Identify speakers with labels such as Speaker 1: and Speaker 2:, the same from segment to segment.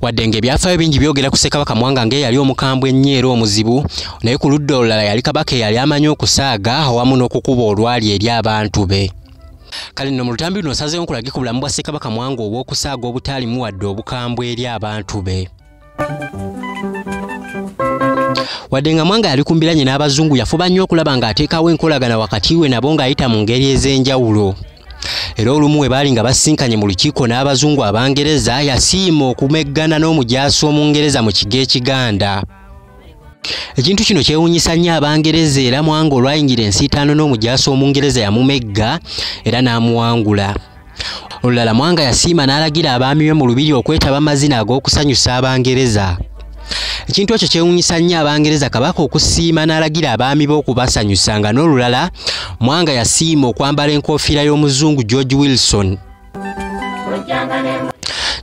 Speaker 1: wadde ng'ebyafaayo bingi byogera ku ssekabaka mwanga ng'eyali omukambwe ennyo era omuzibu naye ku ludda olulala yali kabaka eyali amanyi okusaaga awamu n'okukuba olwali eri abantu be kale nno mu lutambi luno osazeewo nkulage ku bulamu bwa ssekabaka mwanga obw'okusaaga obutaalimu wadde obukambwe eri abantu be wadde nga mwanga yali kumbiranye n'abazungu yafuba nnyo okulaba ng'ateekawo enkolagana wakati we nabo ng'ayita mu ngeri ez'enjawulo era olumu bwe baali nga basinkanye mu lukiiko n'abazungu abangereza yasiima okumeggana n'omujaasi omungereza mu kigo ekiganda ekintu kino kyewunyisa nnyo abangereza era mwanga olwayingira ensiitaano n'omujaasi omungereza yamumegga era n'amuwangula olulala mwanga yasiima n'alagira abaami be mu lubiri okwetaba amazina ag'okusanyusa abangereza ekintu ekyo kyewunyisa nnyo abangereza kabaka okusiima n'alagira abaami be okubasanyusa nga n'olulala mwanga yasiima okwambala enkofiira y'omuzungu george wilson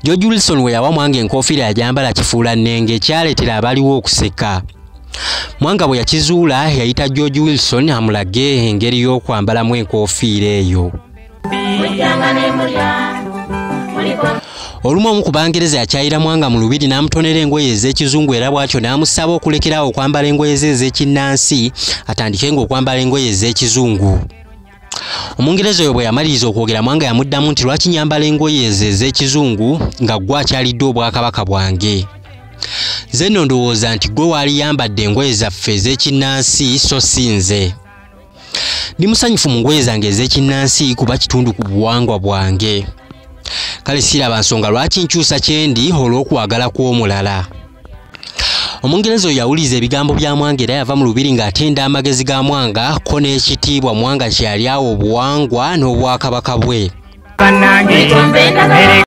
Speaker 1: george wilson we yawa mwanga enkofiira yajambala kifuula nnenge ekyaleetera abaliwo okuseka mwanga bwe yakizuula yayita george wilson amulage engeri y'okwambalamu enkofiira eyo olumu omu ku bangereza yakyayira mwanga mu lubiri n'amutonera engoye ez'ekizungu era bw'atyo n'amusaba okulekerawo okwambala engoye ze ez'ekinnansi atandike ng'okwambala engoye ez'ekizungu omungereza oyo bwe yamaliriza okwogera mwanga yamuddamu nti lwaki nyambala engoye ezo ez'ekizungu nga ggwe akyalidde obwakabaka bwange nze nno ndowooza nti ggwe waali yambadde engoye zaffe ez'ekinnansi so si nze ndi musanyufu mu ngoye zange ez'ekinnansi kuba kitundu ku buwangwa bwange kale siraba nsonga lwaki nkyusa kyendi olw'okwagala kw'omulala omungereza oyo yawuliza ebigambo bya mwanga era yava mu lubiri ng'atenda amagezi ga mwanga ko n'ekitiibwa mwanga kyeyali awo obuwangwa n'obwakabaka bwe